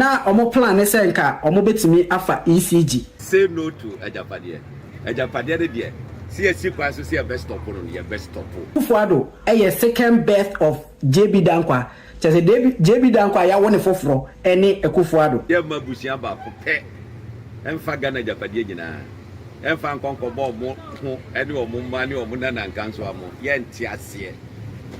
Na wɔn plan ne sɛ nka wɔbɛtumi afa ECG. Say no to agyapadeɛ. Agyapadeɛ no deɛ, sɛ yɛasi kwan so sɛ yɛbɛ stop no no, yɛbɛ stop. Kufuor Addo yɛ second birth of JB Dankwah, kyerɛ sɛ JB JB Dankwah yɛawo ne foforɔ ne Akufuor Addo. Yɛmma abusua baako pɛ mfa Ghana agyapadeɛ nyinaa mfa nkɔ nkɔbɔ wɔn ho ne wɔn mma ne wɔn nana nkansowa mo, yɛnte aseɛ.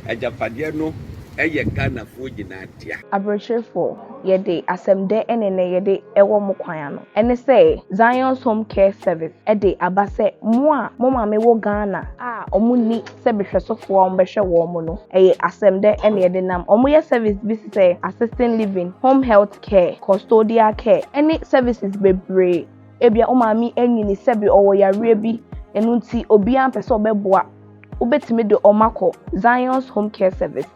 Agyapadeɛ no yɛ Ghanafoɔ nyinaa. dea. Aberekyerefo, yɛde asɛm dɛ ne nnɛ yɛde wɔ mo kwan ano? Ɛne sɛ, Zion's Home Care Service de aba sɛ mo a mo maame wɔ Ghana a wɔnni sɛbehwɛsofo a wɔbɛhwɛ wɔn no, ɛyɛ asɛm dɛ na yɛde nam. Wɔyɛ service bi te sɛ assisting living, home health care, custodial care, ne services bebree. Ebia wo maame anyini sɛbe ɔwɔ yareɛ bi, ɛno nti obiara mpɛ sɛ ɔbɛboa, wobɛtumi de wɔn akɔ Zion's Home Care Service.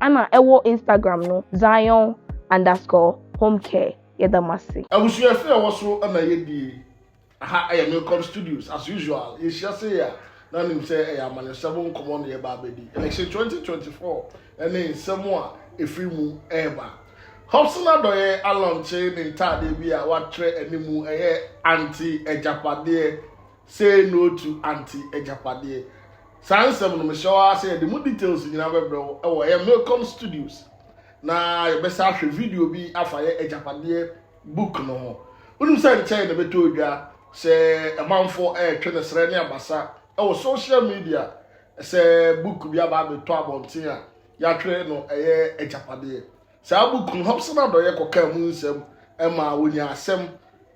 Ana ɛwɔ Instagram no Zion underscore home care yɛda mo ase. Abusua fie a ɛwɔ so na yɛdie. Aha yɛ Milcom Studios, as usual yɛhyia sei a na nim sɛ ɛyɛ amanyɔsɛm nkɔmmɔ na yɛba abɛdi. Election 2024 ne nsɛm a ɛfiri mu reba. Hobson Adɔyɛ alɔnkye ne ntaadeɛ bi a wɔatwerɛ anim ɛyɛ Aunty Agyapadeɛ. Say no to Aunty Agyapadeɛ. Saa nsɛm no mehyɛ wo ara sɛ yɛde mu details nyinaa bɛbrɛ wo wɔ ɛyɛ Milcom Studios na yɛbɛsa ahwɛ video bi afa yɛ Agyapadeɛ book no ho. Wonim sɛ nkyɛe na ɛbɛtɔ odwa sɛ ɛmanfo ɛretwe ne srɛ ne abasa wɔ social media sɛ book bi aba abɛtɔ abɔnten a yɛatwerɛ no ɛyɛ Agyapadeɛ. Saa book no Hobson Adɔyɛ kɔkaa mu nsɛm ma wɔnyaa asɛm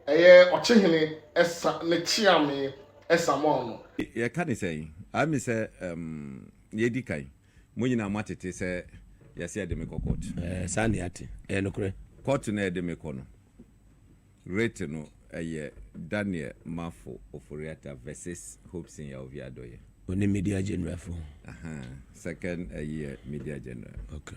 Ɛyɛ ɔkyehene ɛsa ne kyeame ɛsa mɔɔ no. Yɛ ka ne sɛn? I me sɛ um yɛ di kan. Mo nyinaa mo atete sɛ yɛ se yɛ de me kɔ court. Ɛɛ saa ne yɛate. Ɛyɛ nokorɛ. Court no a yɛ de me kɔ no rate no ɛyɛ Daniel Marfo Ofori-Atta versus Hobson Yaovi Adɔyɛ. Ɔne media general fo. Ahaa second ɛyi yɛ media general. Okay.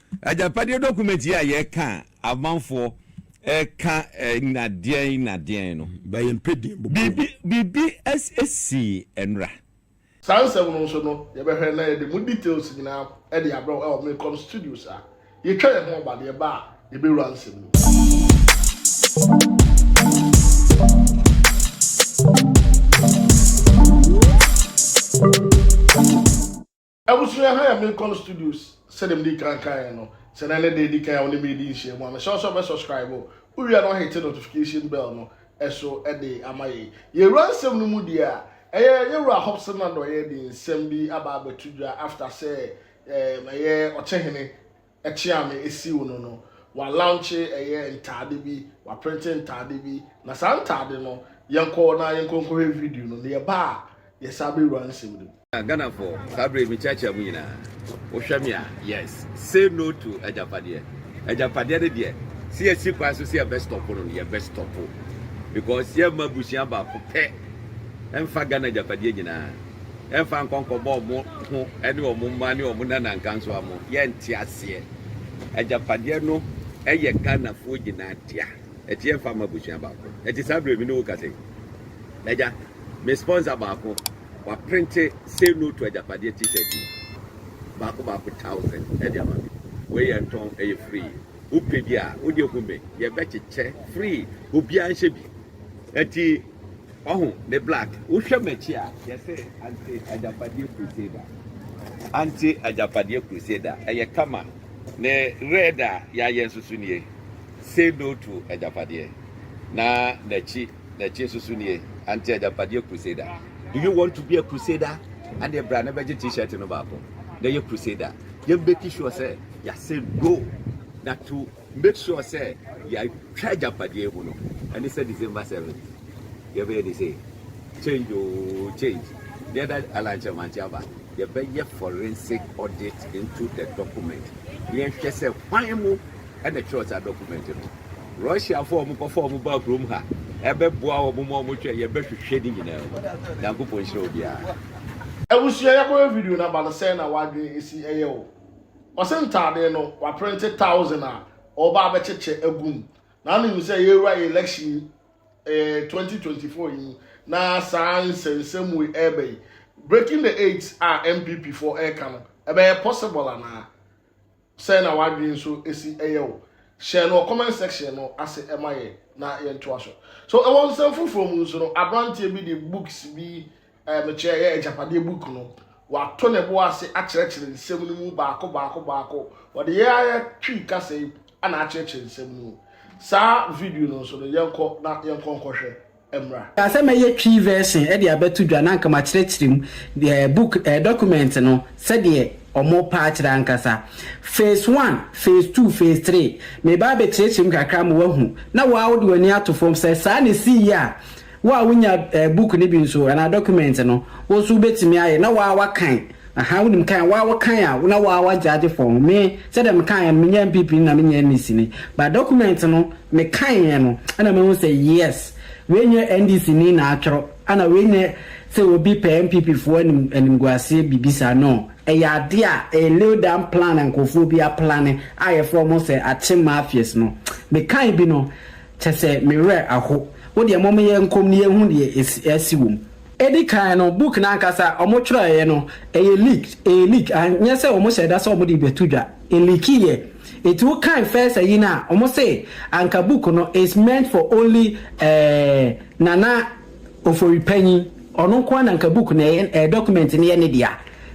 Agyapadeɛ dɔkumɛnti yi a yɛka a amanfoɔ ɛka nnadeɛn nnadeɛn no, biribi sii ɛnora. Saa nsɛm no nso no yɛbɛhwɛ na yɛde mu details nyinaa de abrɛ wo ɛwɔ Milcom Studios a yɛtwa yɛn ho aba deɛ ɛba a yɛbɛwura nsɛm no mu. Abusua ha yɛ Milcom Studios sɛdeɛ mede kan kaeɛ no, sɛ ɛnnɛ ne da ɛdi kan a wo ne me redi nhyiamu a, mehyɛ wo sɛ wobɛ subscribe, wowie a na woahete notification bell no so de ama yɛn. Yɛwura nsɛm no mu deɛ a, ɛyɛ Yɛwura Hobson Addoye de nsɛm bi aba abɛto dwa after sɛ ɛyɛ Ɔkyehene Ɛkye a me esiw no no, wa launche ɛyɛ ntaade bi, wa printe ntaade bi, na saa ntaade no yɛn kɔ na yɛn kɔ nkɔ hwɛ video no, na yɛ ba a yɛ sa bɛ wura nsɛm no mu. Ghanafo, saa bere yi me kyeakyea mo nyinaa. Wo hwɛ me a, yes, say no to agyapadeɛ. Agyapadeɛ no deɛ, se yɛ si kwan so se yɛ bɛ stop no no, yɛ bɛ stop, because yɛ mma abusua baako pɛ nfa Ghana agyapadeɛ nyinaa. ɛmfa nkɔ nkɔbɔ ɔmo ho ɛne ɔmo mma ne ɔmo nana nka nso a mo yɛ nte aseɛ agyapadeɛ no ɛyɛ Ghanafoɔ nyinaa dea ɛte yɛmfa mma abusua baako ɛte saa berɛ mi ne wo kasa yi agya me sponsor baako waprente say no to agyapadeɛ t-shirt yi baako baako thousand ɛde ama me wei yɛ ntɔn ɛyɛ free wopɛ bi a wode hu me yɛbɛkyekyɛ free obiara nhyɛ bi ɛti Wahu ne black. Wohwɛ m'akyi a yɛsɛ ante agyapadeɛ crusader. Ante agyapadeɛ crusader. Ɛyɛ kama. Ne red a yɛayɛ nso so nie. Say no to agyapadeɛ. Na n'akyi n'akyi nso so nie. Ante agyapadeɛ crusader. Do you want to be a crusader? Adeɛ bra na bɛgye t-shirt no baako. Na yɛ crusader. Yɛ make sure sɛ yɛasɛ no na to. Make sure sɛ yɛatwa agyapadeɛ mu no ɛne sɛ December seventh yɛbɛyɛ de sɛ change oo change deɛ da alankyɛmankye aba yɛbɛyɛ forensic audit into the document na yɛhwɛ sɛ hwan mu ɛna ɛtwerɛ saa document no Russiafoɔ a wɔkɔfa wɔn baa kurom ha ɛbɛboa wɔn ma wɔtwɛ yɛbɛhwehwɛ ne nyinaa mu Nyankopɔn nhyira obiara. Abusua yɛkɔhwɛ video no aba no sɛn na wadwen si ɛyɛ wo. Ɔse ntaade no waprente thousand a ɔba abɛkyekyɛ agu mu. Na anim sɛ yɛwura election yi eh, 2024 yi mu na saa nsɛnsɛm wei ɛreba yi. Breaking the eight a MPP foɔ ɛreka no, ɛbɛyɛ possible anaa? Sɛ na wadwene nso ɛsi ɛyɛ o. Hyɛ no comment section no ase ɛma yɛ na yɛntoa so. So ɛwɔ nsɛm foforɔ mu nso no, aberanteɛ bi de books bi a mekyerɛ ɛyɛ agyapadeɛ book no wato ne bo ase akyerɛkyerɛ nsɛm no mu baako baako baako wɔde yɛ ayɛ twi kasa yi ana akyerɛkyerɛ nsɛm no mu saa video no nso no yɛnkɔ na yɛnkɔ nkɔhwɛ mmra. Kaa sɛ mɛyɛ Twi version de abɛto dwa na anka makyerɛkyerɛ mu eh, book eh, document no sɛdeɛ ɔmo paa kyerɛ ankasa. Phase one, phase two, phase three. Meba abɛkyerɛkyerɛ mu kakra ma wahu na waa wode w'ani ato fam sɛ saa na ɛsii yɛ a, Wo a wonya book no bi nso anaa document no, wo nso wobɛtumi ayɛ na woaa woakan. Ahaa, wonim kan a, woaa wokan a na woaa woagyagye form no. Me, sɛdeɛ mekaeɛ no, menyɛɛ NPP ni na menyɛɛ NEC ni, but document no mekaeɛ no na mahu sɛ yes, wei nyɛ NDC ni na atwerɛ, ɛna wei nyɛ sɛ obi pɛ NPP foɔ anim animguaseɛ biribi saa, no, ɛyɛ adeɛ a ɛyɛ laid down plan a nkorɔfoɔ bi aplane a yɛfrɛ wɔn sɛ Akyem Mafias no. Mekae bi no, Kyɛ sɛ me werɛ aho. Wo deɛ mom yɛ nkɔm ne yɛnhu deɛ ɛsi asi wom. Edi kan no book no ankasa wɔn twerɛeɛ no ɛyɛ leaked ɛyɛ leak and nyɛ sɛ wɔn hyɛɛ da sɛ wɔn de rebɛto dwa ɛleakiiɛ nti wo kan first ayi no a wɔn se anka book no is meant for only eh Nana Ofori panyin ɔno nkoa na anka book no ɛyɛ eh document no yɛ ne dea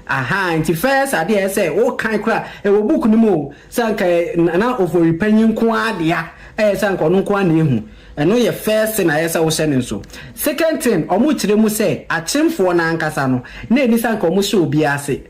ahaa nti first adeɛ a ɛsɛ sɛ wo kan koraa ɛwɔ book no mu o Sɛ anka ɛyɛ Nana Ofori panyin nko ara dea a, ɛyɛ sɛ anka ɔno nko ara na ehu. Ɛno yɛ first thing a ɛyɛ sɛ wohyɛ no nso. Second thing, wɔkyerɛ mu sɛ Akyemfoɔ no ankasa no, na enni sɛ anka wɔhyɛ obi ase.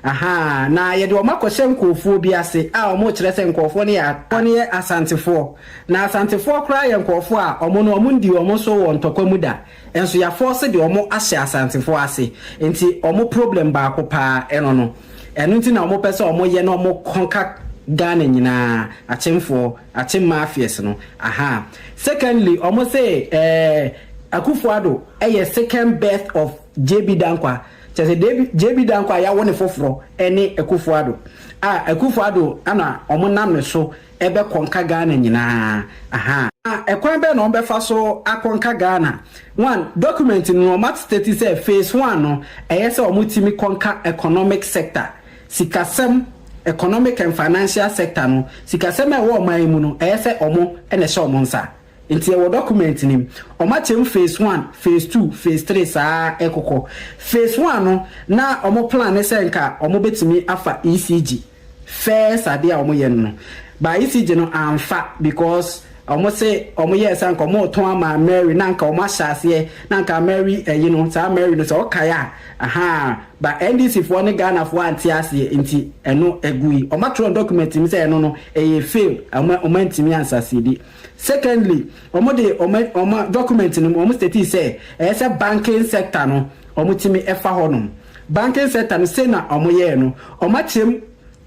Ahaa, na yɛde wɔn akɔhyɛ nkurɔfoɔ bi ase a wɔkyerɛ sɛ nkurɔfoɔ no yɛ Asantefoɔ. Na Asantefoɔ koraa yɛ nkurɔfoɔ a wɔn no wɔnndii wɔn so wɔ ntɔkwa mu da. Nso yafɔɔse de ɔmo ahyɛ asantefoɔ ase nti ɔmo problem baako paa ɛno no ɛno nti na ɔmo pɛ sɛ ɔmo yɛ na ɔmo conquer Ghana nyinaa akyemfoɔ akyem mafias no ahaa secondly ɔmo se ɛɛ Akufo Addo yɛ second birth of JB Dankwa kyerɛ sɛ JB JB Dankwa yawo ne foforɔ ɛne Akufo Addo a Akufo Addo ɛna ɔmo nam ne so ɛbɛkɔ nka Ghana nyinaa aha. Na ɛkwan bɛn na wɔbɛfa so akɔ nka Ghana? One, document no no wɔn atstate sɛ phase one no ɛyɛ sɛ wɔn timi kɔ nka economic sector, sikasɛm, economic and financial sector no, sikasɛm a ɛwɔ ɔman yi mu no ɛyɛ sɛ wɔn na ɛhyɛ wɔn nsa. Nti ɛwɔ document no mu. Wɔn akyɛ mu phase one, phase two, phase three saa ɛkokɔ. Phase one no na wɔn plan ne sɛ nka wɔn bɛtimi afa ECG. First adeɛ a wɔyɛ no no but ECG no amfa because wɔn se wɔn yɛɛ saa nka wɔn retɔn ama Mary na nka wɔn ahyɛ aseɛ na nka Mary ɛyi no saa Mary no sɛ wokae a ahaa but NDC foɔ ne Ghana foɔ ante aseɛ nti ɛno ɛgui wɔn atwerɛ document mu sɛ ɛno no ɛyɛ fail wɔn wɔn antumi ansasiedi secondly wɔn de wɔn wɔn document no mu wɔn statii sɛ ɛyɛ sɛ banking sector no wɔn tumi ɛfa hɔ nom. Banking sector no sei na ɔmo yɛɛ no ɔmo akyɛm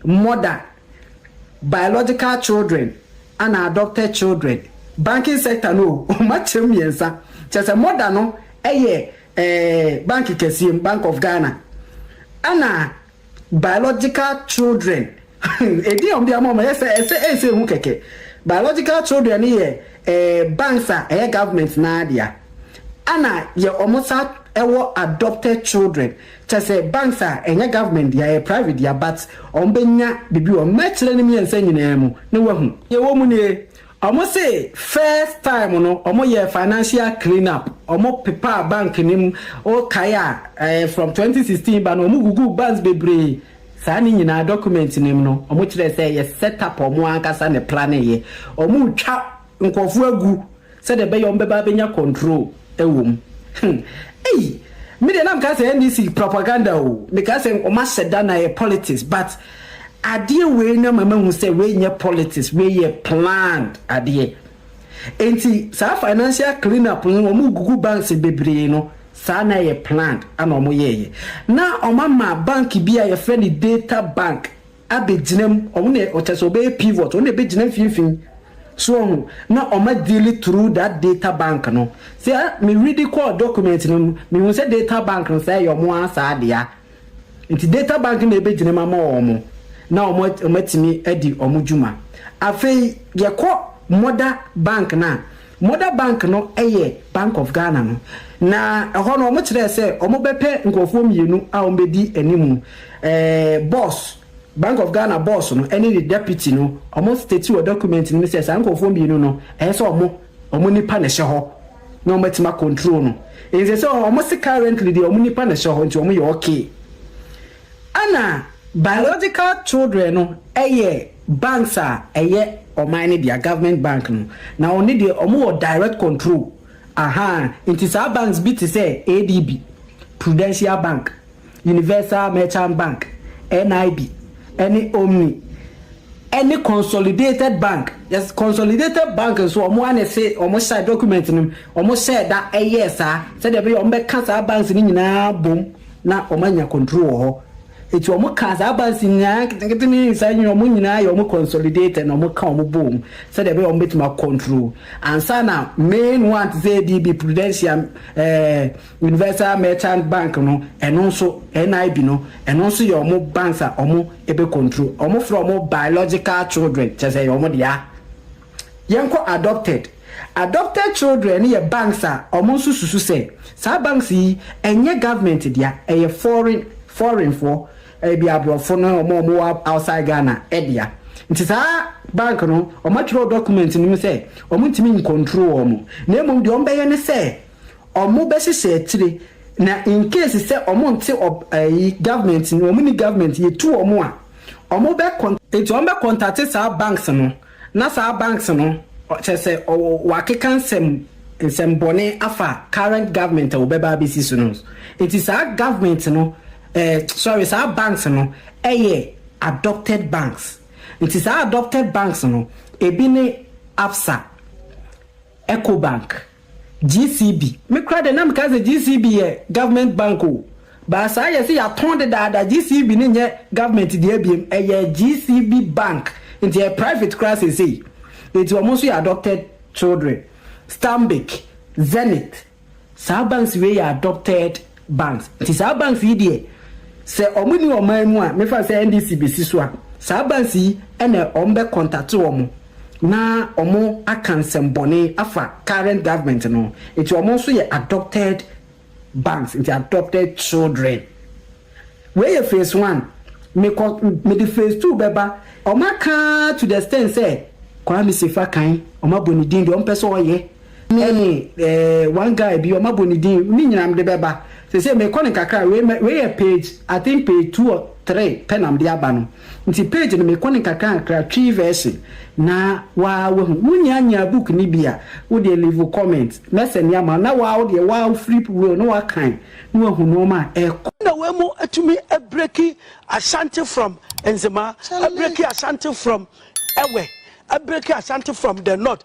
more than biological children ana adopted children banking sector no o ɔmo akyɛm mmiɛnsa kyerɛ sɛ more than no ɛyɛ ɛɛ bank kɛseɛ mu bank of Ghana ana biological children Edin a wɔde ama wɔn, ɛsɛ ɛsɛ ɛsɛ ehu kɛkɛ. Biological children no yɛ ɛɛ banks a ɛyɛ government no ara dea. Ɛna yɛ wɔn sa wɔ adopted children. Kyerɛ sɛ banks a ɛnyɛ government dea, ɛyɛ private dea but wɔn bɛ nya biribi wɔ mu. Mɛkyerɛ no mmiɛnsa nyinaa mu na wahu. Deɛ ɛwɔ mu nie, wɔn se first time no wɔn yɛɛ financial clean up, wɔn pepaa bank no mu, wo kae a ɛɛ from twenty sixteen ba no wɔn guguu banks bebree Saa ne nyinaa document no mu no ɔmo kyerɛ sɛ ɛyɛ set up a ɔmo ankasa na ɛplane yɛ. Ɔmo retwa nkorɔfoɔ agu sɛdeɛ ɛbɛyɛ ɔmo bɛba abɛnya control ɛwɔ mu. Hum ei me deɛ na mekaa sɛ NDC propaganda oo, mekaa sɛ ɔmo ahyɛ da na ɛyɛ politics but adeɛ wei no ama mahu sɛ wei nyɛ politics wei yɛ planned adeɛ. Enti saa financial clean up no wɔn regugu banks bebree no saa na ɛyɛ planned ɛna wɔn yɛɛyɛ na wɔn ama bank bi a yɛfrɛ no data bank abɛgyina mu wɔn na ɔkyɛ sɛ ɔbɛyɛ pivot wɔn na ɛbɛgyina mfimfini so wɔn na wɔn adeali through that data bank no sɛ me read kɔɔ document no mu mehu sɛ data bank no saa ɛyɛ wɔn ara saa dea Nti data bank na ɛbɛgyinam ama wɔn na wɔn atumi adi wɔn dwuma. Afei yɛkɔ mother bank no a, mother bank no yɛ Bank of Ghana no. Na ɛhɔ no wɔn kyerɛɛ sɛ wɔn bɛpɛ nkorɔfoɔ mmienu a wɔn bɛdi animu. Ɛɛ boss, Bank of Ghana boss no ɛne ne deputy no, wɔn state wɔ document no mu sɛ saa nkorɔfoɔ mmienu no ɛyɛ sɛ wɔn, wɔn nipa na ɛhyɛ hɔ. na wɔn atumi acontrol no nsɛ sɛ wɔn se currently deɛ wɔn nipa na ɛhyɛ hɔ nti wɔn yɛ okay ɛna biological children no ɛyɛ banks a ɛyɛ ɔman no dea government bank no na wɔn ne deɛ wɔn wɔ direct control ahaa nti saa banks bi te sɛ adb prudential bank Universal Merchant Bank, NIB, ne Omni, ne Consolidated Bank, yes, Consolidated Bank nso wɔn ara na ɛse wɔn hyɛ document no mu, wɔn hyɛɛ da yɛɛ saa sɛdeɛ ɛbɛyɛ wɔn bɛka saa banks no nyinaa bom na wɔn anya control wɔ hɔ. Eti wɔn kaa saa banks nyinaa nketenkete ne saa nyinaa wɔn nyinaa yɛ wɔn consolidated na wɔn ka wɔn bom sɛdeɛ ɛbɛyɛ wɔn bɛtumi acontrol ansa na main one te sɛ ADB, Prudential, ɛɛ Universal Merchant Bank no ɛno nso, NIB no, ɛno nso yɛ wɔn banks a wɔn bɛ control. Wɔn frɛ wɔn biological children, kyerɛ sɛ ɛyɛ wɔn dea. Yɛn kɔ adopted. Adopted children no yɛ banks a wɔn nso susu sɛ, saa banks yi ɛnyɛ government dea, ɛyɛ foreign, foreign foɔ, ɛbi aborɔfo ne wɔn a wɔn wɔ outside Ghana dea. Nti saa bank no, wɔn atwerɛ wɔ document no mu sɛ, wɔn ntumi ncontrol wɔn, na mmom deɛ wɔn bɛyɛ ne sɛ, ɔmo bɛ hyehyɛ akyire na in case sɛ ɔmo nte ɔb ɛyi government no ɔmo nni government yɛtu ɔmo a ɔmo bɛ kɔn nti ɔmo bɛ kɔntate saa banks no na saa banks no kyerɛ sɛ ɔwɔ wakeka nsɛm nsɛm bɔne afa current government a ɔbɛ ba abɛsi so no nti saa government no ɛɛ sorry saa banks no ɛyɛ adopted banks nti saa adopted banks no ebi ne absa Ecobank, GCB, me koraa deɛ na mekaa sɛ GCB yɛ government bank o, but saa yɛse yɛatɔn dedaada, GCB no nyɛ government deɛ biom, ɛyɛ GCB bank, nti ɛyɛ private koraa seesei, nti wɔn nso yɛ adopted children, Stanbic, Zenith, Saa banks wei yɛ adopted banks nti saa banks yi deɛ sɛ wɔn nni ɔman mu a mefa no sɛ NDC bɛsi so a saa banks yi na wɔn bɛ contate wɔn na wɔn aka nsɛm bɔne afa current government no ho nti wɔn nso yɛ adopted banks nti adopted children. Wei yɛ phase one mekɔ mede phase two bɛba wɔn aka to the extent sɛ Kwame Sefa kan wɔn abɔ ne din deɛ wɔn pɛ sɛ wɔyɛ. ne eh one guy bi ɔma bɔ ne din ne nyina mede bɛba sesei mekɔ no kakra wei mɛ wei yɛ page I think page two or three pɛ na mede aba no nti page no mekɔ no kakra kakra Twi version na waa wahu wonya nyaa book no bi a wodeɛ leave comment mɛsɛne ama wo na waa wodeɛ waa wo flip wei na wakan na wahu nnoɔma a ɛkɔ na wei mo atumi abreki Ashanti from Nzema, abreki Ashanti from Ewe, abreki Ashanti from the north.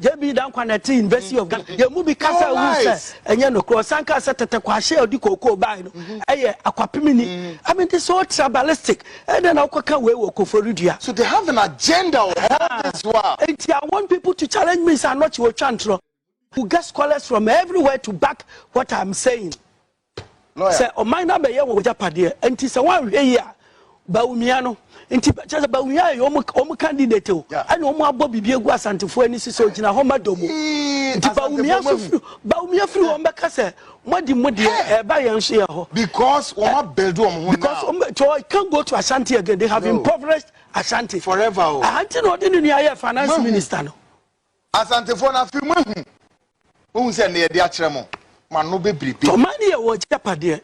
JB Danquah na ɛte University of Ghana. Yɛn mu bi kasa hu sɛ ɛnyɛ nokorɛ. Ɔsan kaa sɛ tɛtɛ kwahye a ɔde kookoo bae no ɛyɛ akwapemni. I mean this so tribalistic. Ɛdɛn na wokɔka wei wɔ Koforidua? So they have an agenda or all this while. Enti I want people to challenge me sɛ anɔkye wɔtwa ntorɔ. You get scholars from everywhere to back what I'm saying. Sɛ ɔman no abɛyɛ wɔn agyapadeɛ, nti sɛ wɔanhwɛ yie a, Bawumia no, nti kyerɛ sɛ Bawumia yɛ wɔn wɔn candidate o, ɛna wɔn abɔ biribi agu Asantefoɔ ani so sɛ ɔgyina hɔ ma dɔm o. Nti Bawumia so firi Bawumia firi wɔn bɛka sɛ moadi mo deɛ ɛba yɛn nso yɛ hɔ. Because wɔn abuild wɔn ho now. Because wɔn bɛ tɔ it can't go to Ashanti again they have impoverished Ashanti. Forever o. Ahanti na ɔde ne nua yɛ finance minister no. Asantefoɔ no afei moahu. Moahu sɛ nne yɛde akyerɛ mo, mo ano bɛbiribiri. Tɔma ne yɛ wɔn agyapadeɛ.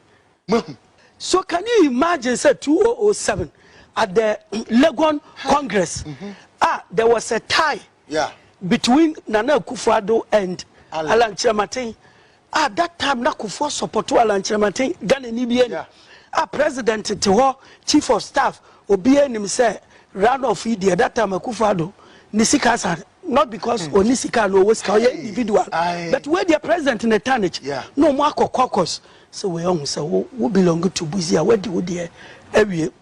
Moahu. So can you imagine sɛ 2007 at the Legon Congress a there was a tie between Nana Akufo-Addo and Alan Kyerematen Ah that time na Kufuor support Alan Kyerematen Ghana ni bia ni ah president te hɔ chief of staff obia nim sɛ run off yi deɛ that time Akufo Addo ne sika sa not because hmm. ɔni sika na ɔwɔ sika ɔyɛ individual but wei deɛ president ne tarnish na ɔmo akɔ caucus sɛ wei ɔho sɛ wo belong to buzi a wadi wo deɛ awie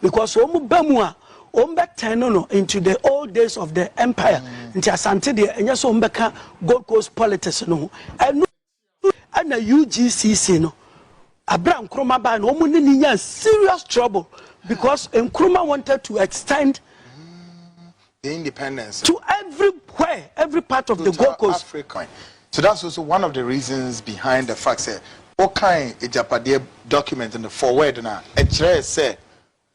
because wɔn ba mu a wɔn bɛ tɛn no no into the old days of the empire mm. nti asante deɛ ɛnyɛ so wɔn bɛ ka gold coast politics no ho ɛnu ɛna ugcc no abira nkroma baa no wɔn ne ne nya serious trouble because nkroma wanted to extend the independence. To every where every part of the Gold Coast. Africa. So that's also one of the reasons behind the fact sɛ wokan agyapadeɛ document no forward no a ɛkyerɛɛ sɛ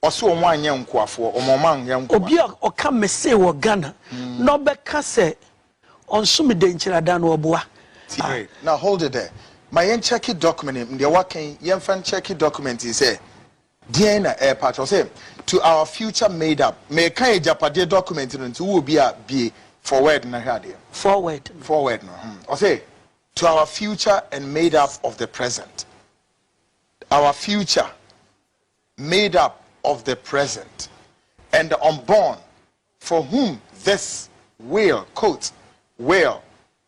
ɔse wɔn anyɛ nkoafoɔ wɔn ɔma anyɛ nkoa. Obi a ɔka mesee wɔ Ghana na ɔbɛka sɛ ɔnsome Denkyiradan no ɔboa. Tie na hold it there ma yɛn kyɛke document no deɛ waka yi yɛmfa nkyɛke document yi sɛ Deɛn na ɛrepa akyerɛ? Ɔse to our future made up. Meka agyapadeɛ document no nti wowɔ bi a bue forward no na hwɛ adeɛ. Forward no. Forward no hmm. Ɔse to our future and made up of the present. Our future made up of the present and the unborn for whom this will, quote, will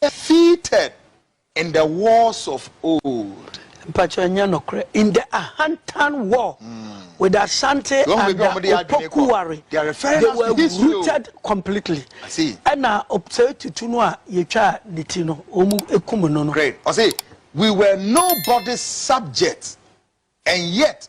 Defeated in the wars of old. Mpakyɛw ɛnyɛ nokorɛ. In the Ahantan war with Asante and Opoku ware they were rooted completely. Ɛna Osei Tutu no a yɛtwaa ne ti no wɔn kum no no. Ɔse we were nobody's subjects and yet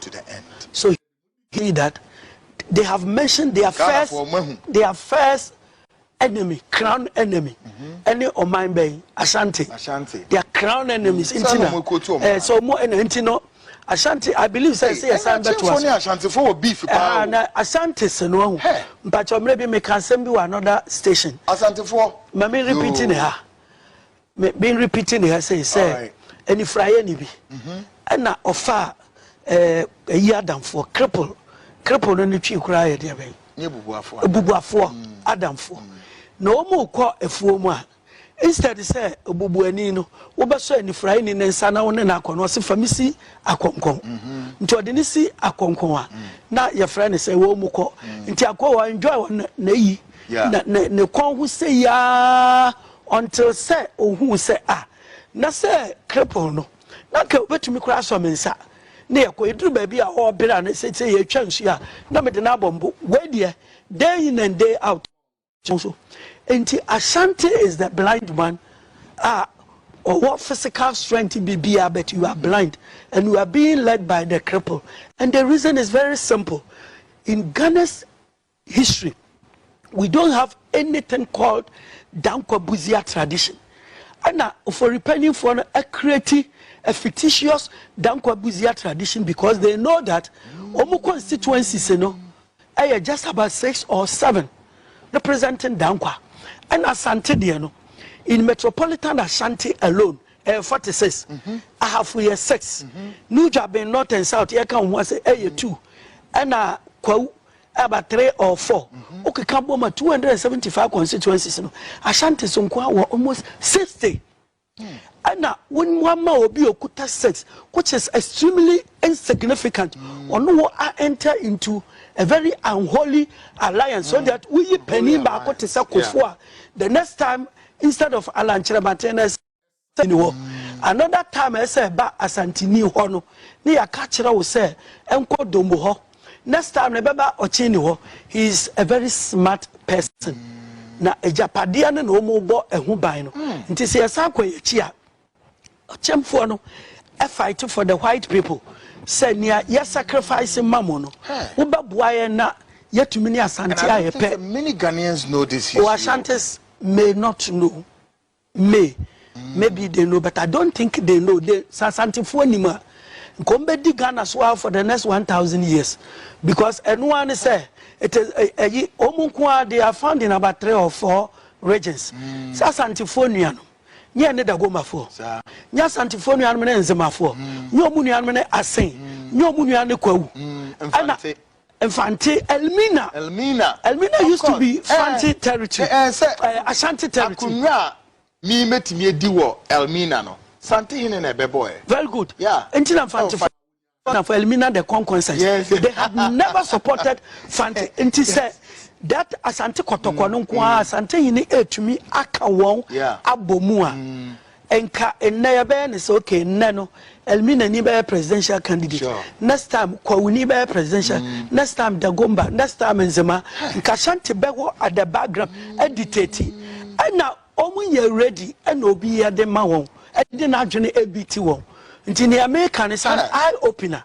to the end. So he that they have mentioned their first their first enemy crown enemy ɛne ɔman bɛn ashanti their crown enemies mm. nti na ɛɛ sɛ ɔmo ɛna nti no ashanti i believe sɛ ɛsɛ yɛ san bɛto ase ɛna ashanti fo wɔ beef paa o na ashanti si no ɛho mpatsɔ mmerɛ bi meka asɛm bi wɔ another station ashanti fo maame repeat ne ha Me me repeating ne ha sei sɛ anifuraeɛ ni bi ɛna ɔfaa ɛɛ ɛyi adamfoɔ cripple cripple no ne twi koraa yɛ deɛ bɛn Nye bubuafoɔ. ebubuafoɔ adamfoɔ na wɔn rekɔ afuo mu a instead sɛ obubuani no wobɛsɔ anifuraeɛ ni ne nsa na wo ne no akɔ no ɔse fa me si akɔnkɔn nti ɔde ne si akɔnkɔn a na yɛfrɛ ne sɛ wɔn mu kɔ nti akɔ wɔ enjoy wɔ na na yi Yeah. na na ne kɔn ho sei aa until sɛ ohuu sɛ ah na sɛ cripple no na anka obetumi koraa asɔ me nsa na yɛkɔ, eduru baabi a ɔɔbere a na sɛ sɛ yɛretwa nsuo a na mede no abɔ mbo, wei deɛ day in and day out ɔwɔ so. Enti Ashanti is the blind man a ɔwɔ physical strength biribiara but you are blind and you are being led by the cripple and the reason is very simple in Ghana's history we don't have anything called Dankwa Busia tradition ɛna Ofori panyinfoɔ no create a fictitious Dankwa Busia tradition because they know that wɔn constituencies no ɛyɛ just about six or seven representing Dankwa ɛna Asante deɛ no in metropolitan Ashanti alone ɛyɛ eh, forty six mhm. ahafo yɛ six mhm. Nujabin north and south yɛ ka wɔn ho ase ɛyɛ eh, two ɛna Kwawu about three or four wokeka bɔ ma two hundred and seventy five constituencies no ashantis nko ara wɔ almost sixty ɛna wɔn mu ama obi okuta six which is extremely insignificant ɔno wɔ a enter into a very unholy alliance so that woyi panyin baako te sɛ kofo a the next time instead of alankyerɛbaten na ɛsɛ. Sɛ ni hɔ another time a ɛsɛ ɛba Asantini hɔ no ne yɛaka akyerɛ wo sɛ nkɔ Dombo hɔ next time no ɛbɛba Ɔkyeni hɔ he is a very smart person na agyapadeɛ no na wɔn rebɔ ɛho ban no nti sɛ yɛsan kɔ yɛn akyi a Ɔkyemfoɔ no fight for the white people sɛ nea yɛ sacrifice ma mo no wobɛboa yɛn na yɛtumi ne Asante ayɛ pɛ. Many Ghanaians know this history. Or Ashantis may not know. Me, maybe they know but I don't think they know they sɛ asantefoɔ nim a nka wɔn bɛdi Ghana so ara for the next one thousand years because ɛno ara ne sɛ it is ɛ- ɛyi wɔn nko ara they are found in about three or four regions sɛ asantefoɔ nuanom nyɛ ɛne dagomafoɔ Saa. nyɛ asantefoɔ nuanom ne nzemafoɔ nyɛ wɔn nuanom ne asen nyɛ wɔn nuanom ne kwawu Mm, ɛna Mfante. Mfante, Elmina. Elmina, Elmina used to be Fante territory. Ɛɛ, ɛɛ sɛ. Ɛɛ, Ashanti territory. Akonnwa a me metumi adi wɔ Elmina no, Fante hene na ɛbɛbɔɛ. Very good. Yeah. Nti na Mfante fo. na for Elmina the Konkonsays. Yes. They had never supported Fante. Nti sɛ that Asante kɔtɔkɔ no nko ara Asante hene etumi aka wɔn abɔ mu a. Nka nnɛ yɛbɛyɛ no sɛ okay nnɛ no Elmina ni bɛyɛ presidential candidate sure. next time Kwawu ni bɛyɛ presidential mm. next time Dagomba next time Nzema nka Shanti bɛwɔ at the background mm. aditati ɛna wɔn yɛ ready ɛna obi yɛ de ma wɔn ɛde n'adwene ebi ti wɔn nti nea meka ne sa eye opener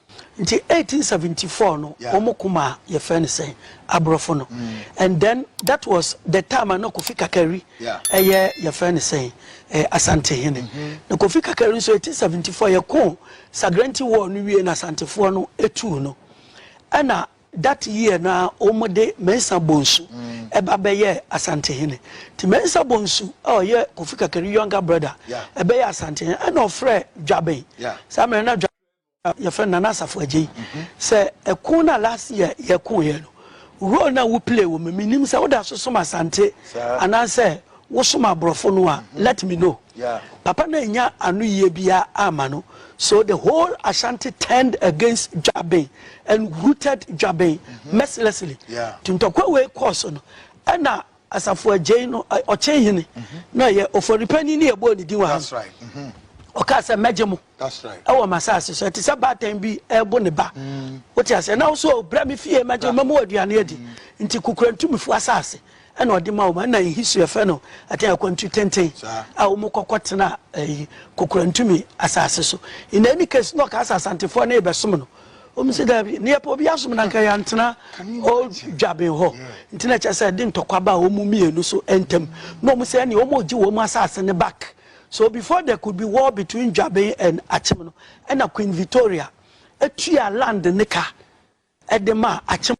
Nti eighteen seventy four no wɔn ko maa yɛfrɛ no sɛn aborɔfo no and then that was the time a na Kofi Kakari ɛyɛ yɛfrɛ no sɛn ɛɛ Asantehene na Kofi Kakari nso eighteen seventy four yɛko Sagrenti war no wie na Asantefoɔ no etuu no ɛna that year no a wɔn de Mensah Bonsu ɛba bɛyɛ Asantehene nti Mensah Bonsu a ɔyɛ Kofi Kakari younger brother ɛbɛyɛ Asantehene ɛna ɔfrɛ Dwaben saa mmerɛ na Dwaben. Yɛfrɛ no Nana Asafo Adjei. Sɛ ɛko no a last year yɛkoeɛ no, role no a wo play wɔ mu, menim sɛ woda so som Asante anaasɛ wosom aborɔfo no a, let me know. Papa no annya anoyie biara amma no, so the whole Ashanti turned against Dwaben and rooted Dwaben mercilessly. Nti ntɔkwa wei kɔɔ so no, ɛna Asafo Agyei no ɔkyen hene na ɔyɛ oforipanyin ne yɛbɔɔ ne din wɔ ha no. Ɔkaa sɛ, Mɛgye mo wɔ m'asase so. Ɛte sɛ baatan bi rebo ne ba. Wote aseɛ? Na wo so o, brɛ me fie, mɛgye wo, mɛma wo aduane adi. Nti Kokorantumifo asase na ɔde ma wɔn. Ɛna in history yɛfrɛ no ɛtɛn akwantu tenten a wɔkɔ kɔtena ɛyi Kokorantumi asase so. In any case, na ɔkaa sɛ Asantefoɔ no rebɛsom no. Wɔn sɛ daabi, ne yɛpɛ obi asom no anka yɛantena old dwaben hɔ. Nti na ɛkyɛ sɛ ɛde ntɔkwa baa wɔn mmienu so ntam. Na wɔn sɛ ɛne wɔn regye wɔn asase no back. So before there could be war between dwaben and akyem no, ɛna Queen Victoria tua land no ka de maa akyem.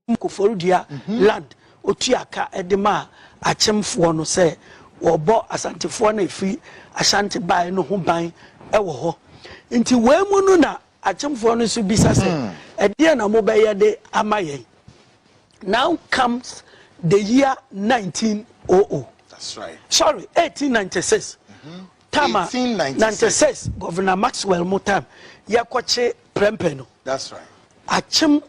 Ɔkum Koforidua Land ɔtuaa ka de maa Akyemfoɔ no sɛ wɔbɔ Asantefoɔ no a ɛfiri Ashanti baeɛ no ho ban wɔ hɔ. Nti wei mu no na Akyemfoɔ no nso bisa sɛ, Ɛdeɛn na mobɛyɛ de ama yɛn? Now comes the year 1900. That's right. Sorry, 1896. Mm-hmm. Time 1896. 96, Governor Maxwell mu time, yɛkɔkye prɛmpɛ no. That's right. Akyem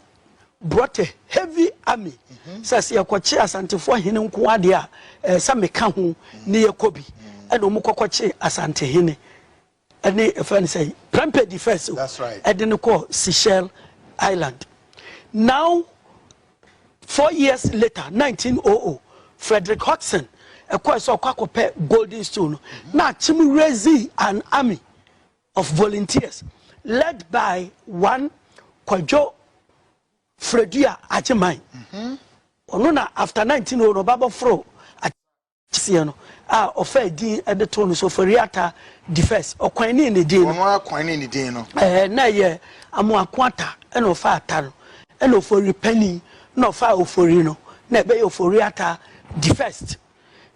Brɔte, heavy army, sɛ sɛ yɛkɔkye Asantefoɔ hene nko ara deɛ a, ɛɛ sɛ meka ho ne yɛkɔ bi. Ɛna wɔn kɔkɔkye Asante hene ne ɛfɛ no sɛ Prempeh the first o, ɛde no kɔɔ Seychelles Island. Now four years later, 1900, Frederick Hodgson ɛkɔɛ sɛ ɔkɔ akɔpɛ golden stool no, na akyem raising an army of volunteers led by one Kwadwo Fredua Agyeman. Ɔno na after 1900 no ɔba bɔforo akyeseɛ no a ɔfa edin de too no so Foriata the first. Ɔkwan ne ne din no. Ɔno akwan ne ne din no. Ɛɛ na ɛyɛ amoako ata ɛna ɔfa ata no ɛna ofori panin na ɔfa ofori no na ɛbɛyɛ Oforiata the first.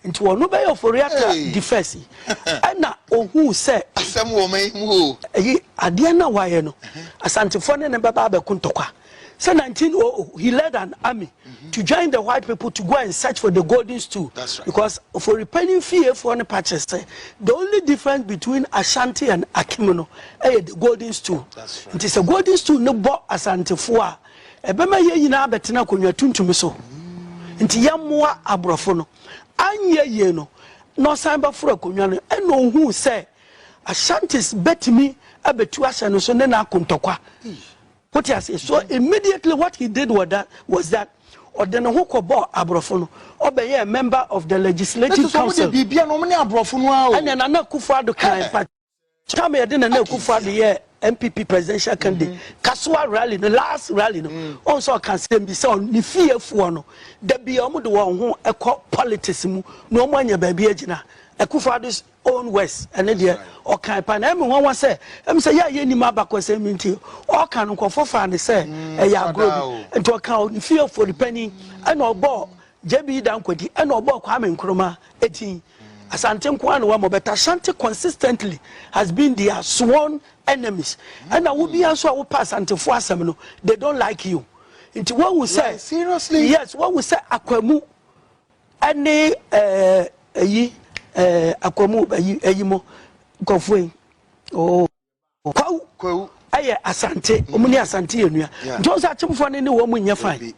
nti wɔno bɛyɛ oforiata Hey. di fɛs yi ɛna ohuu sɛ asɛm wɔ ma yi mu o ɛyi adeɛ no a wayɛ no asantefoɔ ne ne bɛba abɛko ntɔkwa sɛ 1900 he led an army to join the white people to go and search for the golden stool That's right. because oforipanyin fiefoɔ no pa kyerɛ sɛ the only difference between ashanti and akim no ɛyɛ the golden stool That's right. nti sɛ golden stool no bɔ asantefoɔ a Ɛbɛma yɛn nyinaa abɛtena akonnwa tuntum so nti yɛmmoa aborɔfo no. Anyɛ yie no, na ɔsan bɛforo akonnwa no. Ɛnna ɔhuu sɛ Ashantis bɛtumi abɛtu ahyɛ no so ne n'ako ntɔkwa. Wote aseɛ? So immediately what he did was that, was that ɔde ne ho kɔbɔɔ aborɔfo no. Ɔbɛyɛɛ member of the legislative council. Ɛnna Nana Akufo-Addo kaa mpa. Tam yɛde Nana Akufo Addo yɛɛ NPP presidential candidate Kasoa rally no last rally no wɔn nso ɔka asɛm bi sɛ ne fiefoɔ no da bi a wɔn de wɔn ho kɔ politics mu na wɔn anya baabi agyina Akufo Addo's own words ɛne deɛ ɔkan pa na ɛmi wɔn wɔn sɛ ɛmi sɛ yɛ a yɛ nim abakɔsɛm bi nti ɔka no nkɔfo fa ne sɛ ɛyɛ agorɔ bi nti ɔka ne fiefoɔ ne panyin ɛna ɔbɔ JB Dankwadi ɛna ɔbɔ Kwame Nkrumah etin. Asante nko ara na wɔama but Ashanti consistently has been their sworn enemies ɛna wo bia nso a wopɛ Asantefo asɛm no they don't like you nti wahu sɛ yes wahu sɛ akwamu ɛne ɛyi ɛɛ akwamu ɛyi ɛyi mo nkɔfoɔ yi ooo. Kwawu yɛ Asante. Wɔn ne Asante yɛ nua. Nti wɔn sɛ Akyemfoɔ no ne wɔn nyɛ fine.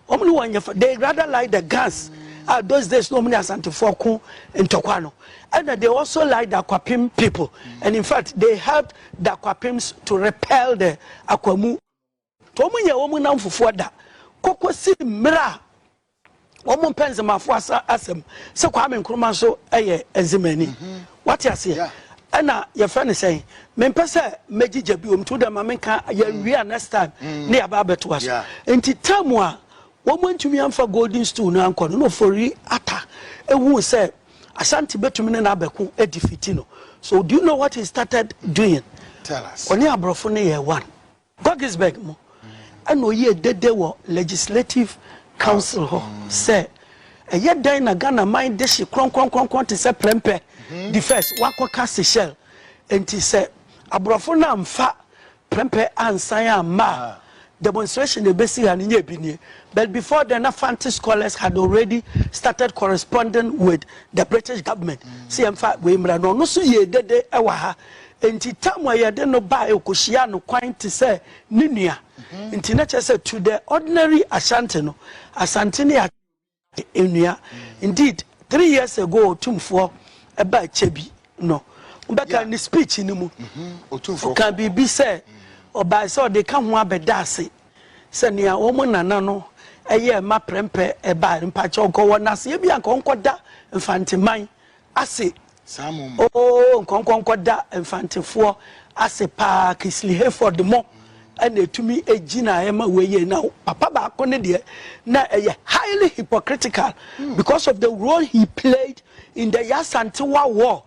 Wɔn ne wɔn nyɛ fine. They rather like the guns a those days na wɔn ne Asantefoɔ ko ntɔkwa no. Ɛna they also like the Akwapim people and in fact they helped the Akwapim's to repel the Akwamu. Wɔnyɛ wɔn nnamfofoɔ da kɔkɔsi mmerɛ a wɔmpɛ Nzemafoɔ asa asɛm sɛ Kwame Nkrumah nso yɛ Nzemani. Wate aseɛ? Yeah. Ɛna yɛfrɛ no sɛn? Mempɛ sɛ mɛgyigya biom nti wodɛ ma menka yɛawie a next time ne yɛaba abɛtoa so. Yeah. Nti tam a wɔn antumi amfa golden stool no ankɔ no na Ofori Atta ehuu sɛ Ashanti bɛtumi ne no abɛko adifiti no. So do you know what he started doing? Tell us. Ɔne aborɔfo no yɛ one. Godesberg no na ɔyɛɛ dede wɔ Legislative Council hɔ sɛ ɛyɛ dɛn na Ghana man dehye krɔnkrɔnkrɔnkrɔn te sɛ prɛmpɛ di first wakɔka Seychelles nti sɛ aborɔfo no amfa prɛmpɛ ansan amma a demonstration a ɛbɛsi ha no nyɛ bi nie but before then na Fante scholars had already started corresponding with the British government sɛ yɛmfa wei mmra na ɔno nso yɛɛ dede wɔ ha Enti tam a ɛyɛ den no bae, okohyiaa no kwan te sɛ ne nua. Enti na ɛkyerɛ sɛ to the ordinary Ashanti no, Asante ne Akyɛ yɛ nua. Indeed, three years ago Otumfoɔ baa Akyɛ bi no, mobɛkae ne speech no mu, ɔkaa biribi sɛ ɔbae sɛ ɔde ka ho abɛda ase sɛ nea wɔn nana no yɛɛ ma prɛmpɛ bae no, mpakyɛw nka ɔwɔ naseɛ bi a nka ɔnkɔda Mfanteman ase oo nkɔnkɔnkɔ da mfantefoɔ ase paa Kisley Hayford mo na ɛtumi gyinaeɛ ma wei yei na papa baako ne deɛ na ɛyɛ highly hypocritical hmm. because of the role he played in the Yasantewa war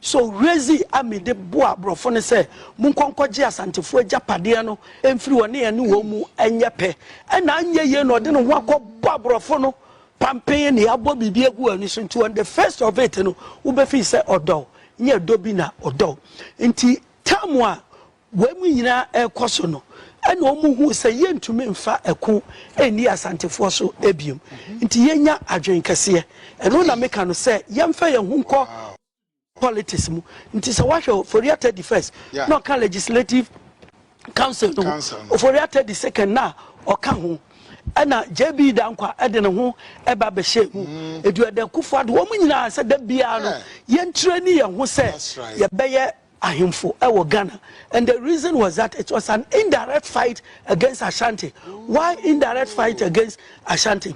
so rezi amide boa aborɔfo no sɛ monkɔnkɔgye asantefoɔ agyapadeɛ no mfiri wɔne ɛne wɔn mu ɛnyɛ pɛ ɛna anyɛ yie na ɔde ne ho akɔbɔ aborɔfo no Pampee na yɛabɔ biribi agu w'ani so nti on the first of it no wobɛfeel sɛ ɔdɔ wo, nyɛ ɛdɔ bi na ɔdɔ wo. Nti time a wei mu nyinaa ɛrekɔ so no ɛna wɔn huu sɛ yɛntumi mfa ɛko nni Asantefoɔ so biom nti yɛnya adwene kɛseɛ. Ɛno na meka no sɛ yɛmfa yɛn ho nkɔ. politics mu nti sɛ wahwɛ Oforiatta Teddy first yeah. na ɔka legislative council no Oforiatta Teddy second na ɔka ho ɛna JB Dankwa ɛde ne ho ɛba bɛhyɛ mu mm. edu ɛdɛ kufu ado wɔn nyinaa sɛ da biara no yɛn tire ne yɛn ho sɛ yɛbɛyɛ ahemfo ɛwɔ Ghana and the reason was that it was an indirect fight against Ashanti why indirect fight against Ashanti.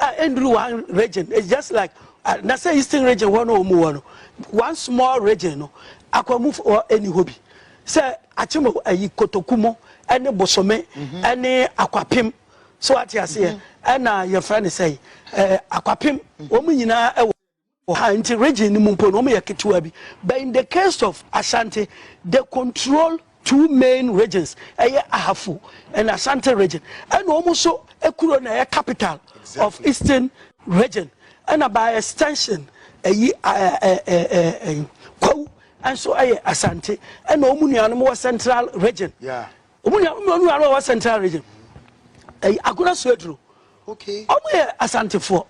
a ɛnduru one region it's just like uh, na sɛ eastern region hɔ no wɔn wɔ no one small region no akwamufoɔ ɛni hɔ bi sɛ akyem ayi kotoku mu ɛne bosome mhm. ɛne akwapem so ate aseɛ mhm. ɛna yɛfrɛ ne sɛ ɛɛ eh, akwapem mhm. wɔn nyinaa ɛwɔ. wɔ ha nti region no mu mpo no wɔn yɛ ketewa bi but in the case of Ashanti they control two main regions ɛyɛ Ahafo and Ashanti region ɛna wɔn nso kuro na ɛyɛ capital of eastern region ɛna by extension ɛyi ɛɛ ɛɛ ɛɛ Kwawu nso ɛyɛ Asante ɛna wɔn nuanom wɔ central region. Yeah. Wɔn nua wɔn nua no a wɔwɔ central region ɛyi akora so aduro wɔn yɛ asantefoɔ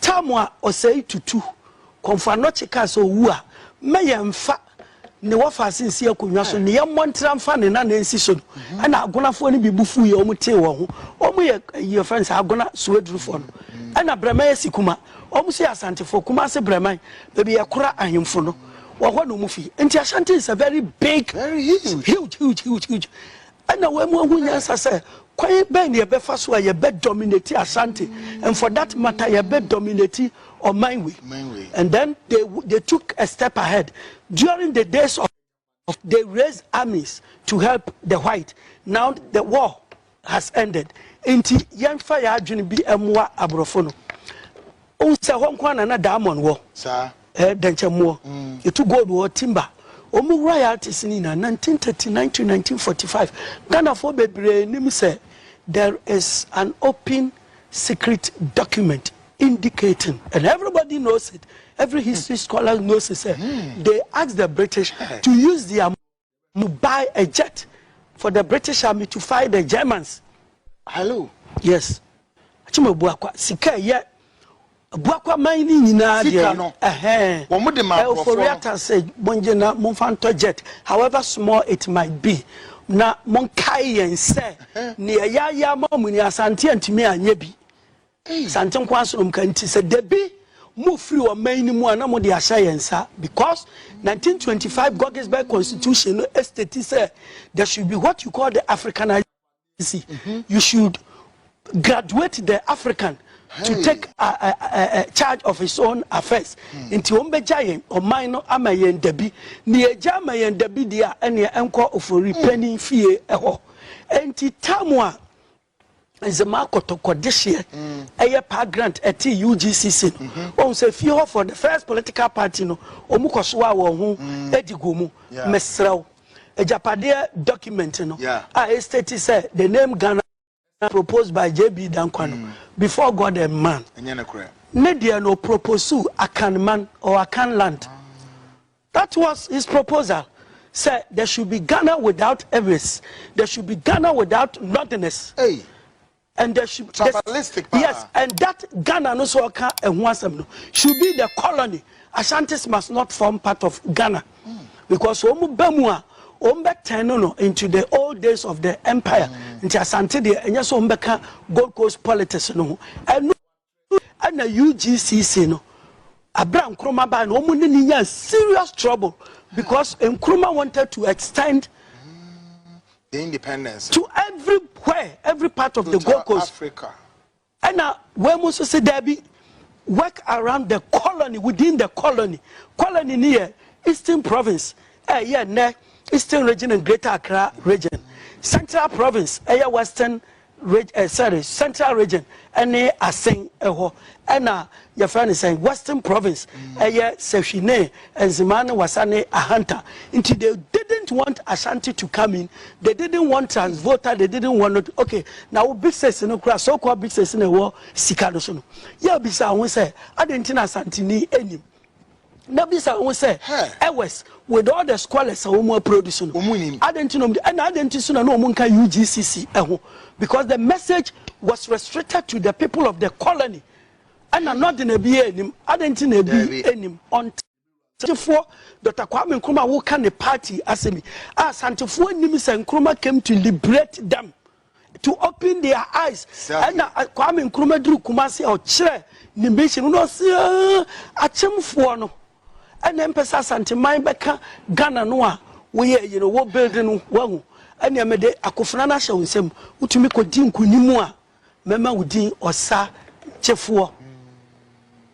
taamu a ɔsɛe tutu kɔnfɔ anɔkye kaa sɛ owu a mɛ yɛn nfa ne wɔfa ase nsi akonnwa so ne yɛn mmɔ ntera nfa ne nan nsi so no ɛna agonafoɔ no bi bu fu yɛ wɔn tee wɔn ho wɔn yɛ ɛyi yɛ fɛn sɛ agona so adurofoɔ no ɛna brɛman yɛ si kuma wɔn nso yɛ asantefoɔ kuma ase brɛman baabi yɛ kora ahemfo no. wɔ hɔ na ɔmu fi nti ashanti is a very big very huge huge huge huge huge ɛna wɔn mu ahu nyansa sɛ kwan bɛn na yɛbɛfa so a yɛbɛ dominate ashanti mm. and for that matter yɛbɛ dominate ɔman wei and then they they took a step ahead during the days of they raised armies to help the white now the war has ended nti yɛnfa yɛ adwene bi mmoa aborɔfo no wohu sɛ hɔ nko ara na na diamond wɔ saa eh, dɛnkyɛmmoɔ yɛtu gold wɔ hɔ timber wɔn mu royalties no nyinaa 1939 to 1945 ghanafoɔ bebree nim sɛ there is an open secret document indicating and everybody knows it every history scholar knows it sɛ they asked the british to use their you buy a jet for the British army to fight the Germans. Hello. Yes. Achim Abuakwa. Sika yɛ Abuakwa man ni nyinaa deɛ. Sika no. Ɛhɛn. Wɔn de ma aborɔfoɔ no. Oforiata sɛ mongye na momfa ntɔ jet however small it might be na monkae yɛn sɛ nea yɛayɛ ama mo ni Asante antumi anyɛ bi. Sante nko ara so nom ka nti sɛ dabi mo firi ɔman no mu a na mo de ahyɛ yɛn nsa because 1925 Goggisberg constitution no estate sɛ there should be what you call the Africanization mhm. you should graduate the African to take a, a, a, a charge of his own affairs hmm. nti wɔn bɛgya yɛn ɔman no ama yɛn dabi nea egya ama yɛn dabi deɛ a ɛnea ɛnkɔ ofori hmm. panyin fie ɛhɔ nti tam a Nzema Kotoko dehyeɛ ɛyɛ paa grant ɛte UGCC no wahu sɛ fie hɔ foɔ the first political party no ɔmu kɔ soa wɔn ho ɛdi gu mu mesrɛ wo agyapadeɛ document no a ɛstate sɛ the name Ghana proposed by JB Danquah no before God and man ne deɛ no ɔproposuu Akan man or Akan land. That was his proposal sɛ there should be Ghana without Ewiase, there should be Ghana without Northerners. Hey. And there should, Tribalistic paa. Yes, and that Ghana no so ɔka ɛho asɛm no should be the colony. Ashantis must not form part of Ghana because wɔn ba mu a wɔn bɛ tɛn no no into the old days of the empire. Nti Asante deɛ ɛnyɛ sɛ wɔn bɛka Gold Coast politics no ho. Ɛno Ɛna UGCC no aberɛ a Nkrumah baeɛ no wɔn ne no nyaa serious trouble because Nkrumah wanted to extend the independence to everywhere every part of the Gold Coast Africa ɛna wɔn mu nso sɛ daabi work around the colony within the colony colony ni yɛ eastern province ɛyɛ nnɛ eastern region and greater accra region central province ɛyɛ western Reg eh, sorry, Central Region ne Asen hɔ. Ɛna yɛfrɛ no sɛn? Western Province. Mm. Ɛyɛ Sahwi ne Nzema ne Wasa ne Ahanta. Nti they didn't want Ashanti to come in. They didn't want Transvolta. They didn't want it. Okay, na wo big six no kura so called big six na ɛwɔ sika no so no. Yɛ bisa ho sɛ, adɛn nti na Asantini anim? Na bisa wo ho sɛ, Ewes, with all the scholars a wɔn aproduce no, adɛn nti na wɔn de, ɛna adɛn nti nso na na wɔn nka UGCC ho? Because the message was restricted to the people of the colony. Ɛna na ɔde na ebi yɛ anim, adɛn nti na ebi anim? Ɔnte Santefoɔ Dɔkta Kwame Nkrumah woka ne party asɛm yi a Santefoɔ nim sɛ Nkrumah came to liberate them. to open their eyes ɛna Kwame Nkrumah duru Kumasi a ɔkyerɛ ne mission no ɔsi akyemfoɔ no ɛna mpɛ sɛ Asanteman bɛka Ghana no a woyɛ ayi no wɔ build no wahu ɛna mede akofena no ahyɛ wo nsam wotumi kɔdi nkunim a mɛma wo din ɔsa gyefoɔ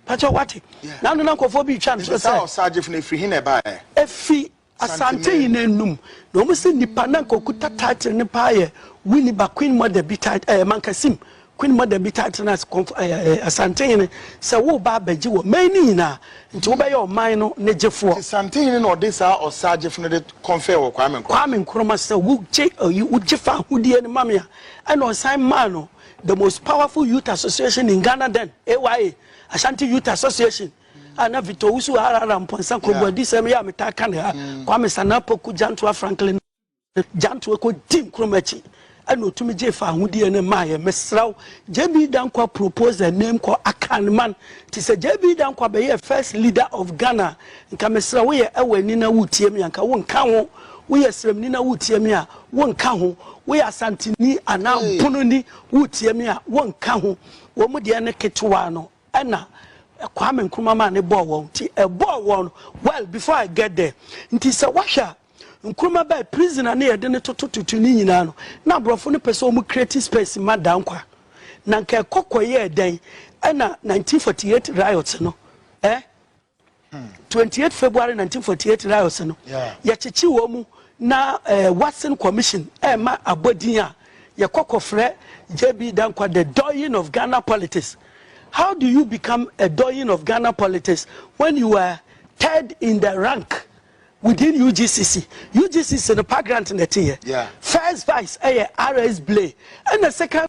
pɛkyɛ wate na no na nkɔfoɔ bi twa no so sɛ ɔsa gyefo no ɛfiri he na ɛbaɛ ɛfiri Asante yi na num na ɔmo se nipa na nka okuta title no paa yɛ Winnie ba Queen Mother bi title ɛɛ Mankasim Queen Mother bi title no as kɔnf ɛɛ ɛɛ Asantehene sɛ wo ba abɛgye wɔ man no nyinaa nti wo bɛyɛ ɔman no ne gyefoɔ. Nti Santehene na ɔde saa ɔsaa gyefo no de kɔnfɛɛ wɔ Kwame Nkrumah. Kwame Nkrumah sɛ wo gye ɛyi wo gye fa ahodie no ma me a ɛna ɔsan maa no the most powerful youth association in Ghana then AYA Ashanti Youth Association. a na Victor Owusu harahara mpɔnsa kɔnguadisɛm yi a metaa ka ne ha mm. Kwame Sannah Poku Gyantoa Franklin Gyantoa kɔdi nkurom akyi ɛna ɔtumi gye fa ahodeɛ no maa yɛ mesra wo JB Dankwa propose a name called Akanman te sɛ JB Dankwa bɛyɛ first leader of Ghana nka mesra wo yɛ ɛwɔ ani na wotie me anka wo nka ho woyɛ srɛmni na wotie me a wonka ho woyɛ asanteni anaa mpononi wotie me a wonka ho wɔn mu deɛ ne ketewa no ɛna Kwame Nkrumah maa ne bɔɔ wɔn nti ɛbɔɔ wɔn no well before I get there nti sɛ wahwɛ a Nkrumah bɛɛ prisoner ne yɛde no toto tutu ne nyinaa no na aborɔfo no pɛ sɛ wɔn create space ma Dankwa na nka ɛkɔ kɔyɛɛ dɛn ɛna 1948 riots no eh twenty eight february nineteen forty eight riots no yɛkyekye wɔn mu na ɛɛ eh, watson commission ɛɛma eh, abɔdin a yɛkɔ kɔfrɛ jb dankwa the doyen of ghana politics how do you become a doyen of ghana politics when you are third in the rank within ugcc ugcc no park grant na ɛte yɛ first vice ɛyɛ eh, rs blay ɛna second.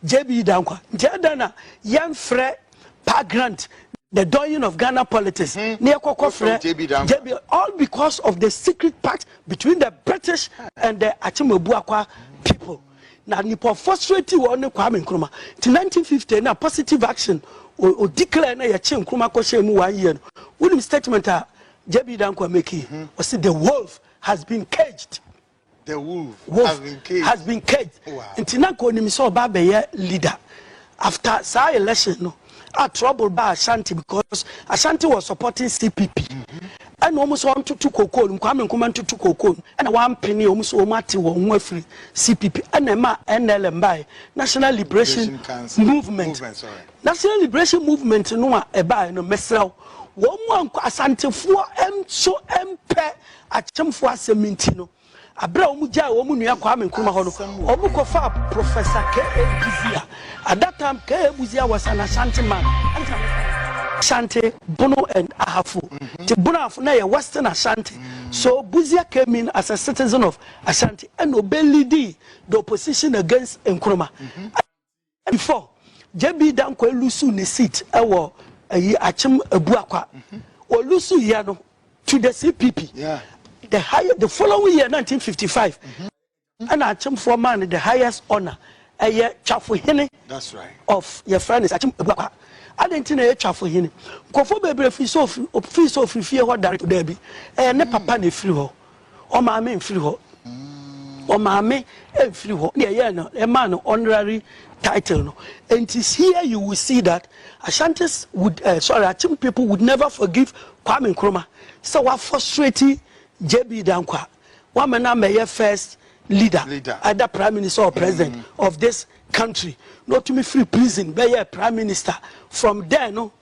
JB da nkwa nti adɛn na yɛnfrɛ Pa Grant the doyen of Ghana politics na yɛkɔkɔ frɛ JB all because of the secret pact between the British and the Akyemabuakwa people na nipa frustrated wɔn ne Kwame Nkrumah ti 1950 na positive action o declare na yɛkye Nkrumah kɔhyɛ mu one year no wonim statement a JB Dankwa make yi ɔsi the wolf has been caged. The wolf, wolf has been caged. Has been caged. Wow. Nti na nka onim sɛ ɔba abɛyɛ leader. After saa election no, a trouble ba Ashanti because Ashanti was supporting CPP. Ɛna wɔn sɛ wɔntoto koko no, Kwame Nkrumah ntoto koko no. Ɛna wɔampene wɔn sɛ wɔn ate wɔn ho afiri CPP. Ɛna ɛma NLM bae, National Liberation Council. Movement. Movement, sorry. National Liberation Movement no a ɛbae no, mesrɛ wo, wɔn mu ankɔ Asantefoɔ nso mpɛ Akyemfo asɛm nti no, bere a wɔgyaee wɔn nua Kwame Nkrumah hɔ no, wɔkɔfaa Professor K. A. Busia, at that time K. A. Busia was an Ashanti man. Ashanti, Bono and Ahafo. Mm-hmm. The Bono Ahafo na yɛ Western Ashanti. Mm-hmm. So Busia came in as a citizen of Ashanti and obeyed the opposition against Nkrumah. Mm-hmm. Before, JB Dankwah loosuu ne seat wɔ ayi Akyem Abuakwa. Ɔloosuuiɛ no to the CPP. The high, the following year 1955 ɛna Akyemfoɔ maa no the highest honour. Ɛyɛ Twafo Hene of yɛfrɛ no sɛ Akyem Abuakwa. Adɛn nti na ɛyɛ Twafo Hene? Nkurɔfoɔ bebree firi sɛ ɔfiri, ɔfiri sɛ ɔfiri fie hɔ direct? Daabi. Ɛyɛ ne papa na ɛfiri hɔ. ɔmaa me mfiri hɔ. Ɔmaa me mfiri hɔ. Deɛ ɛyɛɛ no, ɛmaa no honorary title no. And it's here you will see that Ashantis would, uh, sorry, Akim people would never forgive Kwame Nkrumah. Sɛ wa frustrate JB Dankwa, wa mɛ na mɛyɛ first leader, leader, either prime minister or president mm. of this country. Not to me free prison, bɛyɛ prime minister. From there no,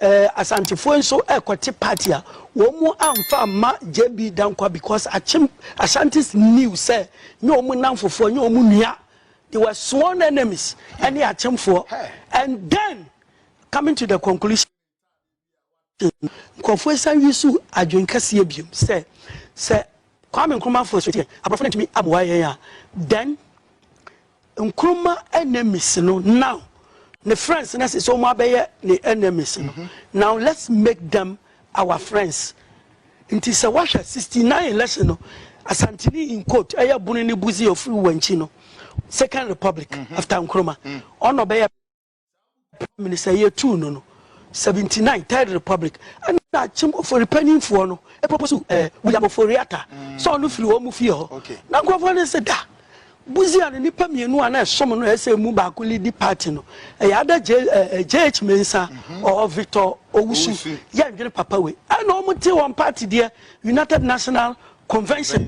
Asantefoɔ yi nso rekɔte party a wɔn amfa amma JB Danquah because Akyem Ashantis knew sɛ nyɛ wɔn nnamfofoɔ, nyɛ wɔn nua. They were sworn enemies ɛne Akyemfoɔ and then coming to the conclusion nkurɔfoɔ san use adwene kɛseɛ biom sɛ sɛ Kwame Nkrumah fo asuatie a aborɔfo no antumi aboa yɛn a then Nkrumah enemies no now ne friends no ɛsɛ sɛ wɔn abɛyɛ ne enemies no now let's make them our friends nti sɛ wahwɛ sixty nine election no Asantini in quote ɛyɛ Buni ne Buzi ofiri Wankyi no second republic after Nkrumah ɔna ɔbɛyɛ Minister yɛ tuu no no, 79 Third Republic ɛna akyem ofori panyinfoɔ no ɛpɔpɔ so ɛɛ William Ofori Atta sɛ ɔno firi wɔn mu fie hɔ na nkurɔfoɔ no sɛ da buzia no nipa mmienu a na ɛsom no ɛsɛ emu baako lidi party no ɛyɛ ada J ɛɛ JH Mensah ɔɔ Victor Owusu yɛ ndwene papa wei ɛna wɔn te wɔn party deɛ United National Convention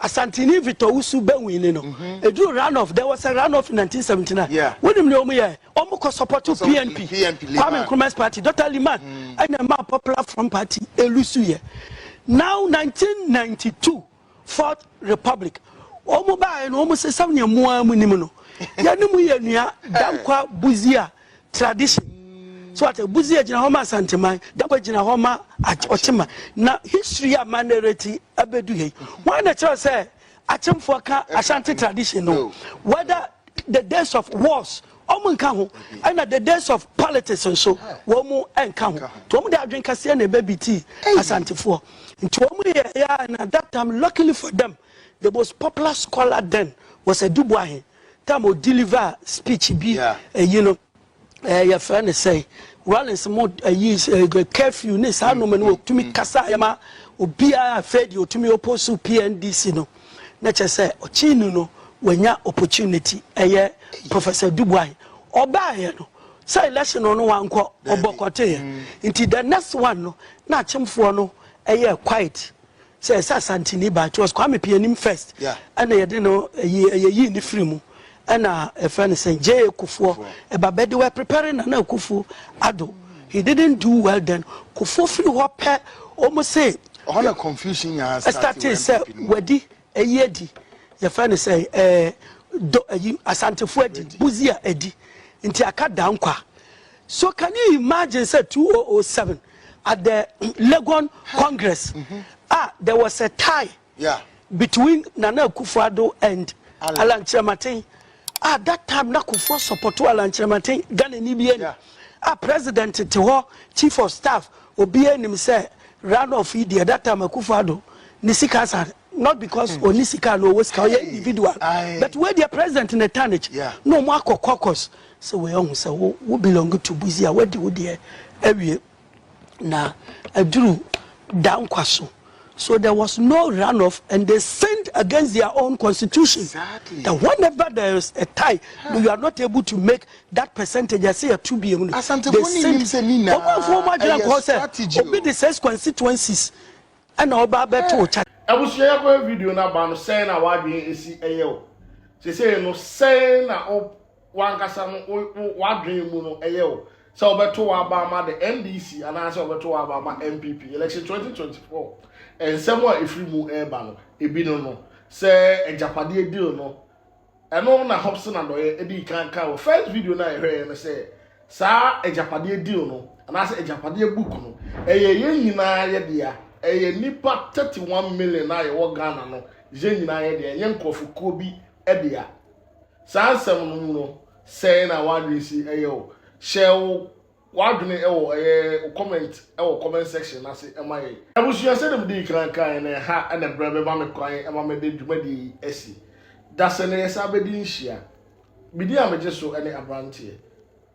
Asanteni Victor Owusu Bawuin ne no eduru run off there was a run off in nineteen seventy nine Yeah. wonim nea wɔn yɛɛ wɔn kɔ support Ɔsɛ- PNP PNP Liman. Kwame Nkrumah's party Dr Liman ɛna ɛmaa Popular Front party elusu yɛ now nineteen ninety two fourth republic wɔn baayɛ no wɔn sɛ sɛnea mu ara mu nim no yɛne mu yɛ nua Dankwa Busia tradition. So what? Buzi egyina hɔ ma Asanteman, Dabo egyina hɔ ma Ochima. Na history a ma narrate abedu hei. Why na kyerɛ sɛ Achemfoɔ ka Ashanti tradition no? Whether the days of wars wɔn nka ho ɛna the days of politics nso wɔn nka ho nti wɔn de adwene kaseɛ na ɛbɛbi ti asantefoɔ nti wɔn yɛ yɛ na that time luckily for them the most popular scholar then was a Dubois Tam o deliver speech bi ayi no ɛɛ yɛfrɛ no sɛn Rawlings mo ayi curfew ne saa nneɛma no otumi kasa ɛma obiara afei deɛ otumi oppose PNDC no na kyɛ sɛ ɔkyini no wanya opportunity ɛyɛ Professor Dubois ɔbaeɛ no sɛ election no ɔno wankɔ ɔbɔkɔteeɛ nti the next one no na akyemfoɔ no ɛyɛ quiet sɛ ɛsɛ asanteni ba it was kwame pianim first ɛna yɛde no yɛyii ne firi mu ɛna ɛfɛ no sɛ gye kofoɔ ɛba bɛde were preparing na na kofuo ado he didn't do well then kofuo firi hɔ pɛ wɔn se ɔhɔ na confusion nyaa start sɛ wadi Ayi adi, yɛfrɛ no sɛn? Ɛɛ, do, ayi, Asantefo adi, Busia adi, nti aka Dankwa. So can you imagine sɛ 2007 at the Legon Congress a there was a tie between Nana Akufo-Addo and Alan Kyerematen? Ah that time na Kufuor supporto Alan Kyerematen Ghanani bia ni ah president te hɔ chief of staff obia nim sɛ run off yi deɛ that time Akufo Addo ne sika asa not because ɔni sika anaa ɔwɔ sika ɔyɛ individual but wei deɛ president ne tarnish na ɔmo akɔ caucus sɛ wei ɔho sɛ wo belong to buzi a wadi wo deɛ awie Na aduru da nkwa so. So there was no runoff and they sinned against their own constitution. Exactly. And whenever there is a tie, huh. you are not able to make that percentage. I say a two BM. They sinned. Obi the six constituencies. And all about better chat. Abusua yɛ kɔhɛ video na ba no sɛn na wadwen esi ɛyɛ o sese no sɛn na o. w'ankasa no wo wo w'adwene mu no ɛyɛ o sɛ ɔbɛto w'aba ama the NDC anaasɛ ɔbɛto w'aba ama NPP election 2024 nsɛm a ɛfiri mu ɛreba no ebi no no sɛ agyapadeɛ deal no ɛno na Hobson Adɔyɛ ɛdi kan kan wɔ first video no a yɛhwɛeɛ no sɛ saa agyapadeɛ deal no anaasɛ agyapadeɛ book no ɛyɛ yɛn nyinaa yɛ dea ɛyɛ nipa 31 million a yɛwɔ Ghana no yɛn nyinaa yɛ dea ɛnyɛ nkurɔfokuo bi dea Saa nsɛm no mu no, sɛn na w'adwene si yɛ wo? Hyɛ wo w'adwene wɔ ɛyɛ wo comment wɔ comment section no ase ma yɛn. Abusua, sɛdeɛ medii kan kaeɛ no, ɛha na ɛberɛ bɛma me kwan ma mede dwumadie yi asi. Dasɛ na yɛsan bɛdi nhyia. Medin a megye so ne Aberanteɛ.